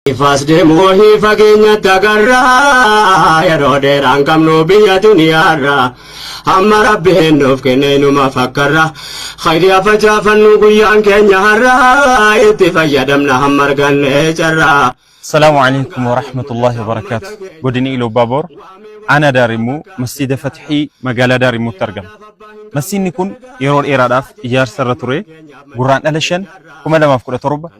Ifaas deemu wahii fageenyatti agarra yeroo dheeraan qabnu biyya duniyaarra hamma rabbiin nuuf kenne inuma fakkarra khayri afacaafannu guyyaan keenya harra itti fayyadamna hamma arganne carra. Salaamu alaikum warahmatullahi wabarakaatu. Godina Iluu Baaboor aanaa Daarimuu masjiida Fatihii magaalaa Daarimuutti argama. Masjiidni kun yeroo dheeraadhaaf ijaarsa irra ture Gurraandhala 5 2017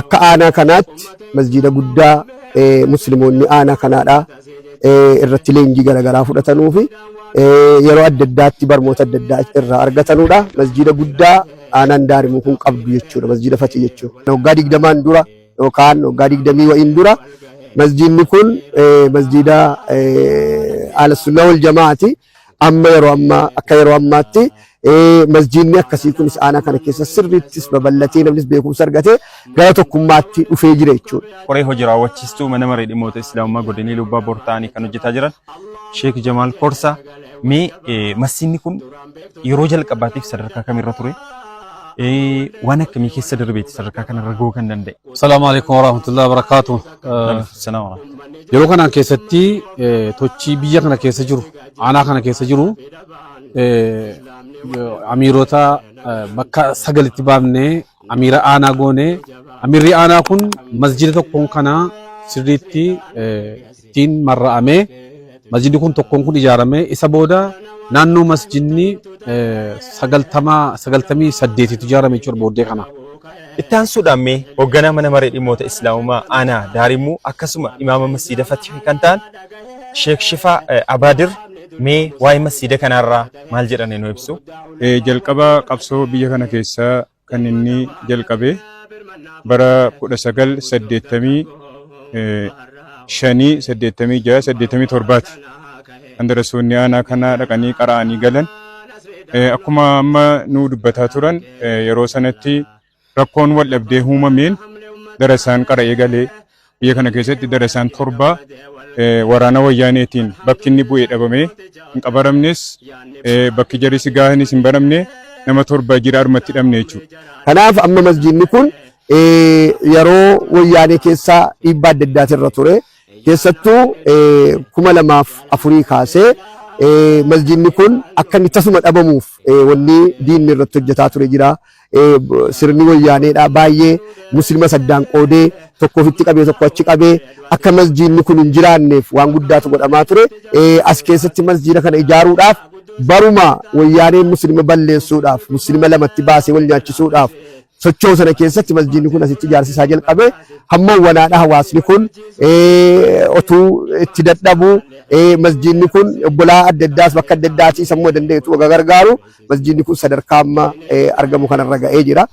Akka aanaa kanaatti masjiida guddaa muslimoonni aanaa kanaadhaa irratti leenjii garaagaraa fudhatanuu fi yeroo adda addaatti barmoota adda addaa irraa argatanudha. Masjiida guddaa aanaan daarimuu kun qabdu jechuudha. Masjiida fatii jechuudha. Waggaa digdamaan dura yookaan waggaa digdamii wa'iin dura masjiidni kun masjiida Ahlussunnaa wal Jamaa'aati. Amma yeroo ammaa akka yeroo ammaatti masjiinni akkasii kunis aanaa kana keessa sirriittis babal'atee namnis beekumsa argatee gara tokkummaatti dhufee jira jechuudha. Qoree hojii raawwachiistuu mana maree dhimmoota Islaamummaa godinii Lubbaa Bortaanii kan hojjetaa jiran Sheek Jamaal Korsaa mee masjiinni kun yeroo jalqabaatiif sadarkaa kamirra ture? Waan akkamii keessa darbeeti sadarkaa kanarra gahuu kan danda'e? Salaamu alaikum warahmatullahi wabarakatuh. Yeroo kanaan keessatti tochii biyya kana keessa jiru aanaa kana keessa jiru amiirota bakka sagalitti baafnee amiira aanaa goonee amiirri aanaa kun masjida tokkoon kana sirriitti ittiin marra'amee Masjidni kun tokkoon kun ijaarame isa booda naannoo masjidni sagaltamaa sagaltamii saddeetitu ijaarame jechuudha booddee kana. Itti aansuudhaan mee hoogganaa mana maree dhimmoota Islaamummaa aanaa Daarimuu akkasuma imaama masjiida Fatihii kan ta'an Sheek Shifaa Abaadir mee waa'ee masjiida kanaarraa maal jedhanii nu ibsu? Jalqaba qabsoo biyya kana keessa kan inni jalqabe bara 1985 86 87ti kan darassoonni aanaa kanaa dhaqanii qara'anii galan akkuma amma nu dubbataa turan yeroo sanatti rakkoon wal dhabdee uumameen darasaan qara'ee galee Biyya kana keessatti darasaan torba waraana wayyaaneetiin bakki inni bu'e dhabame hin qabaramnes bakki jarisi gaahanis hin baramne nama torba jira armatti dhabne jechuudha. Kanaaf amma masjiidni kun yeroo wayyaanee keessa dhiibbaa adda addaatirra ture keessattuu kuma lamaaf afurii kaasee masjiidni kun akka inni tasuma dhabamuuf wanni diinni irratti hojjetaa ture jira. Eh, b- sirni wayyaaneedha baay'ee muslimas addaan qoodee tokko ofitti qabee tokko achi qabee akka masjiidni kun hin jiraanneef waan guddaatu godhamaa ture Eh, as keessatti masjiida kana ijaaruudhaaf baruma wayyaaneen muslima balleessuudhaaf muslima lamatti baasee wal nyaachisuudhaaf socho'u sana keessatti masjiidni kun asitti ijaarsisaa jalqabe hamma wanaadha hawaasni kun eh, otuu itti dadhabu eh, masjiidni kun obbolaa adda addaas bakka adda addaati sammuu danda'etu wagga gargaaru masjiidni kun sadarkaa amma argamu kanarra ga'ee jira.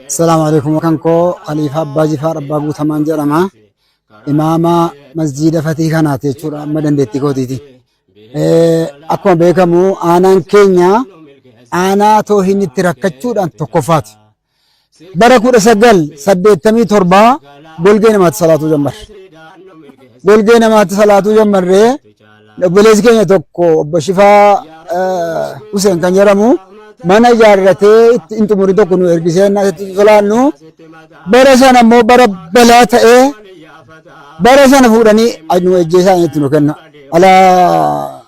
Assalaamu alaikum kan koo Khaliifaa Abbaa Jifaar Abbaa Guutamaan jedhama. Imaama masjiida fatii kanaati jechuudha amma dandeettii kootiiti. Akkuma beekamu aanaan keenya aanaa toohinni itti rakkachuudhaan tokkoffaati. bara 1987 golgee namaatti salaatuu jammarre. Golgee namaatti salaatuu jammarree obboleessi keenya tokko obbo Shifaa eh, Huseen kan jedhamu mana ijaarratee itti hin xumuri tokko nu ergisee innaa itti solaannu bara sana immoo bara balaa ta'ee bara sana fuudhanii nu ejjeesaan itti nu kenna. Alaa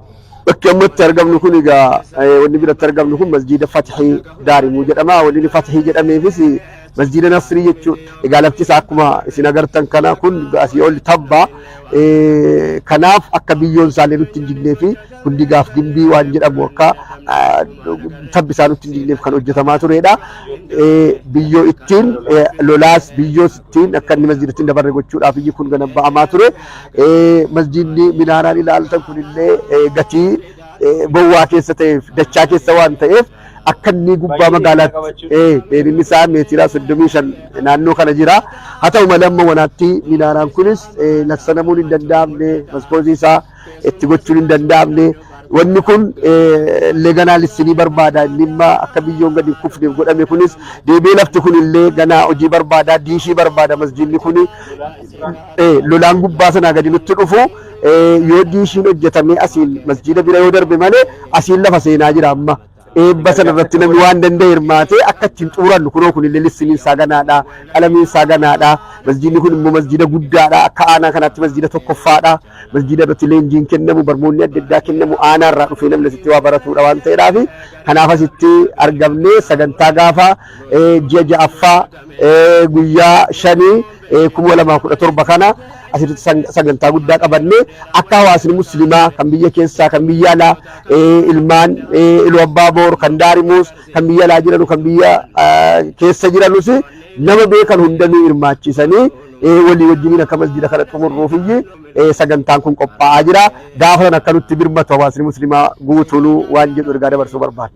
Bakki amma itti argamnu kun egaa wanni biratti argamnu kun masjiida Fatihii Daarimuu jedhama. Wanni inni Fatihii jedhameefis masjiida Nasrii jechuudha. Egaa lafti isaa akkuma isin agartan kana kun asii ol tabba. Kanaaf akka biyyoon isaallee nutti hin jignee fi kun digaaf gimbii waan jedhamu akka tabbi isaa nutti hin jigneef kan hojjetamaa turedha. Biyyoo ittiin lolaas biyyoo ittiin akka inni masjiidatti hin dabarre gochuudhaaf iyyi kun gana ba'amaa ture. Masjiidni minaaraan ilaaltan kunillee gatii bowwaa keessa ta'eef dachaa keessa waan ta'eef akka inni gubbaa magaalaatti dheerinni isaa meetiraa soddomii shan naannoo kana jira. Haa ta'u malee amma wanaatti minaaraan kunis laksanamuun hin danda'amne maskoozii isaa itti gochuun hin danda'amne. Wanni kun leeganaalistii ni barbaada. Inni immoo akka biyyoon gadi hin kufneef godhame kunis deebi'ee lafti kun illee ganaa hojii barbaada, diishii barbaada masjiidni kun lolaan gubbaa sanaa gadi nutti dhufu yoo diishiin hojjetamee asiin masjiida bira yoo darbe malee asiin lafa seenaa jira amma. Eebba sana irratti namni waan danda'e hirmaatee akka ittiin xumurannu kunoo kun illee lissiniin isaa ganaadha, qalamiin isaa ganaadha, masjiidni kun immoo masjiida guddaadha, akka aanaa kanaatti masjiida tokkoffaadha, masjiida irratti leenjiin kennamu, barmoonni adda addaa kennamu aanaa irraa dhufee namni asitti waa baratuudha waan ta'eedhaaf kanaaf asitti argamnee sagantaa gaafa ji'a ja'affaa guyyaa shanii 2017 kana asitti sang- sagantaa guddaa qabannee akka hawaasni muslimaa kan biyya keessaa kan biyya alaa eh, ilmaan eh, iluu abbaa boor kan daarimuus kan biyya alaa jiranu kan biyya ah, keessa jiranus nama beekan hundanuu hirmaachisanii eh, walii wajjiniin akka masjida kana xumurruuf iyyi eh, sagantaan kun qophaa'aa jira gaafa sana akka nutti birmatu hawaasni muslimaa guutuunuu waan jedhu ergaa dabarsuu barbaada.